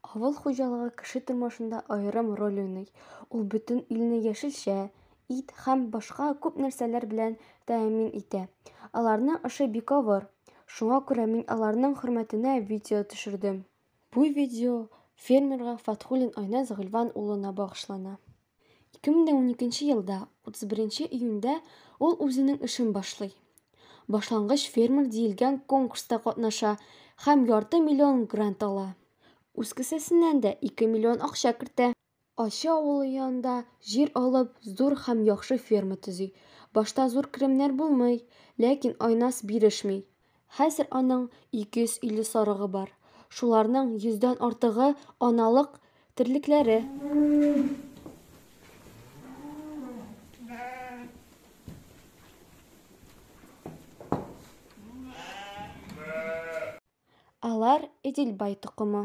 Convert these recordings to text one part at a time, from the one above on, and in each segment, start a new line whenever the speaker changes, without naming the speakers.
Авыл хуҗалыгы кеше тормышында аерым роль уйный. Ул бөтен илне яшелчә, ит һәм башка күп нәрсәләр белән тәэмин итә. Аларның эше бик авыр. Шуңа күрә мин аларның хөрмәтенә видео төшердем. Бу видео фермерга Фатхуллин Айназ Гыйльван улына багышлана. 2012 елда 31 июньдә ул үзенең эшен башлый. Башлангыч фермер диелгән конкурста катнаша һәм ярты миллион грант ала. Үз кесәсеннән дә 2 миллион акча кертә. Ачы авылы янында җир алып, зур һәм яхшы ферма төзи. Башта зур керемнәр булмый, ләкин Айназ бирешми. Хәзер аның 250 сарыгы бар. Шуларның йөздән артыгы аналык терлекләре. Алар Эдельбай токымы.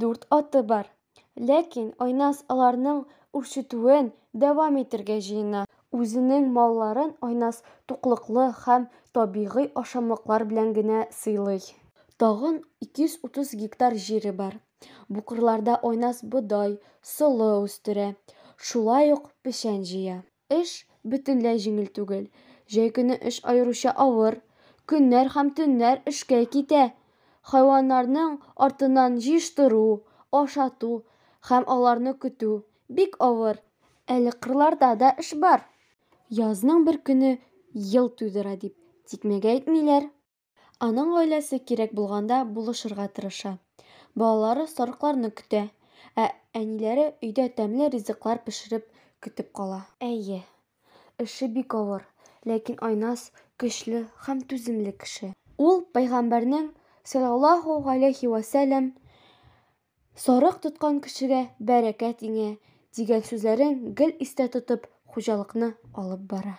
Дүрт аты бар. Ләкин Айназ аларның үрчетүен дәвам итергә җыена. Үзенең малларын Айназ туклыклы һәм табигый ашамлыклар белән генә сыйлый. Тагын 230 гектар җире бар. Бу кырларда Айназ бодай, солы үстерә. Шулай ук печән җыя. Эш бөтенләй җиңел түгел. Җәй көне эш аеруча авыр. Көннәр һәм төннәр эшкә китә. Хайваннарның артыннан җыештыру, ашату һәм аларны көтү, бик авыр. Әле кырларда да эш бар. Язның бер көне ел тудыра дип, тикмәгә әйтмиләр. Аның гаиләсе кирәк булганда булышырга тырыша. Балалары сарыкларны көтә, ә әниләре өйдә тәмле ризыклар пешереп көтеп кала. Әйе, эше бик авыр, ләкин Айназ көчле һәм түземле кеше. Ул Пәйгамбәрнең, салләллаһу галәйһи вә сәлләм, Сарык тоткан кешегә бәрәкәт иңә, дигән сүзләрен гел истә тотып, хуҗалыкны алып бара.